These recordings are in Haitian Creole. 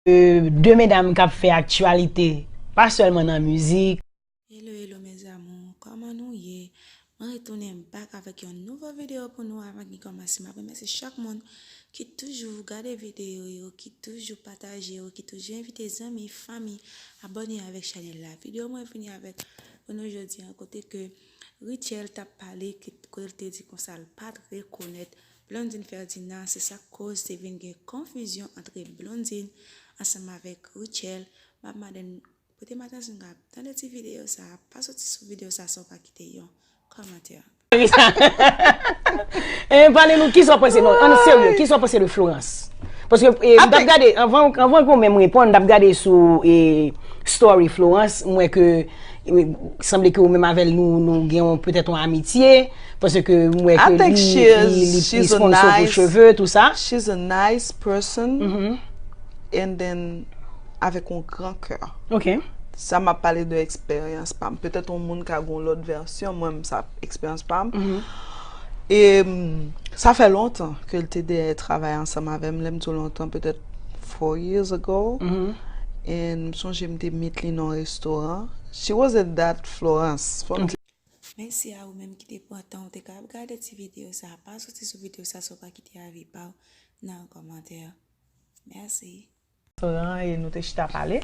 2 medam kap fè aktyalite pa sèlman nan mizik. Hello hello mes amours kòman nou ye mwen retounen back avèk yon nouvo video pou nou avan ni kòmanse map remèsye chak moun ki toujou gade video yo ki toujou pataje yo ki toujou envite zanmi fanmi abòne avèk chanèl la video mwen vini avèk pou nou jodi an kote ke Rutshelle tap pale kote l te di konsal pat rekonèt Blondine Ferdinand se sak koz te vin gen konfizyon antre Blondine ansanm avèk Rutshelle map mande n pote m atansyon kap tande ti video sa pa soti sou video sa san w pa kite yon kòmantè. Eeh pale nou kisa w panse non an serye kisa w panse de Florence paske m tap gade anvan ke w menm reponn m tap gade sou story Florence m wè ke sanble ke ou menm avèl nou gen yon petèt yon amitye. Pase ke m wè ke li li sponsor pou cheve tout sa. She's a nice person and then avèk yon gran kè. Ok. Sa m ap pale de eksperyans pa m. Petèt yon moun ka gen yon lòt vèsyon, mwen m sa eksperyans pa m. E sa fè lontan ke l te dèyè travay ansanm avè m. Lè m di w lontan petèt four years ago. And m sonje m te meet li nan yon restoran. She wasn't that Florence. Mèsi a ou menm ki te pran tan ou te ka ap gade ti videyo sa a. Pa soti sou videyo sa a san w pa kite avi pa w nan yon kòmantè. Mèsi! Pran e nou te chita pale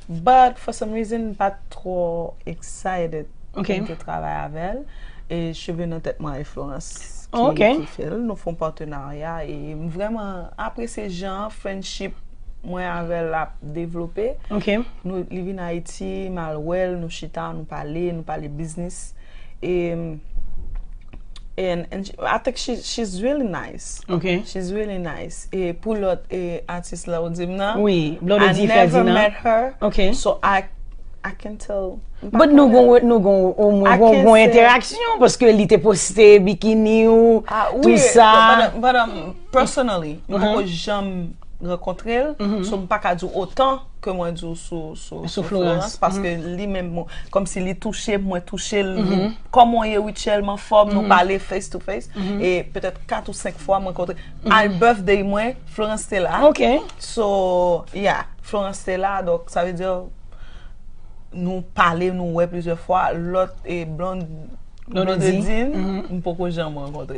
but for some reason m pat twò excited pou m te travay avè l e cheve nan tèt mwen e Florence ki fè l nou fon patenarya e m vrèman apresye jan friendship mwen avèl ap devlope li vin ayiti mal wèl nou chita nou pale nou pale biznis e I think she's really nice she's really nice e pou lòt atis la ou dim nan I never met her so I can tell but nou gon interaksyon paske li te poste bikini ou tout sa but personally mwen pa janm rankontre l, so m pa ka di w otan ke mwen di w sou sou Florans, paske li menm mwen, kòm si li touche m, mwen touche l, kòman w ye Rutshelle, m anfòm, nou pale face to face, e petèt 4 ou 5 fwa m rankontre, a birthday mwen, Florans te la, so ya, Florans te la, donk sa vle di, nou pale, nou wè plizyè fwa, lòt e Blondedine, m poko janm rankontre.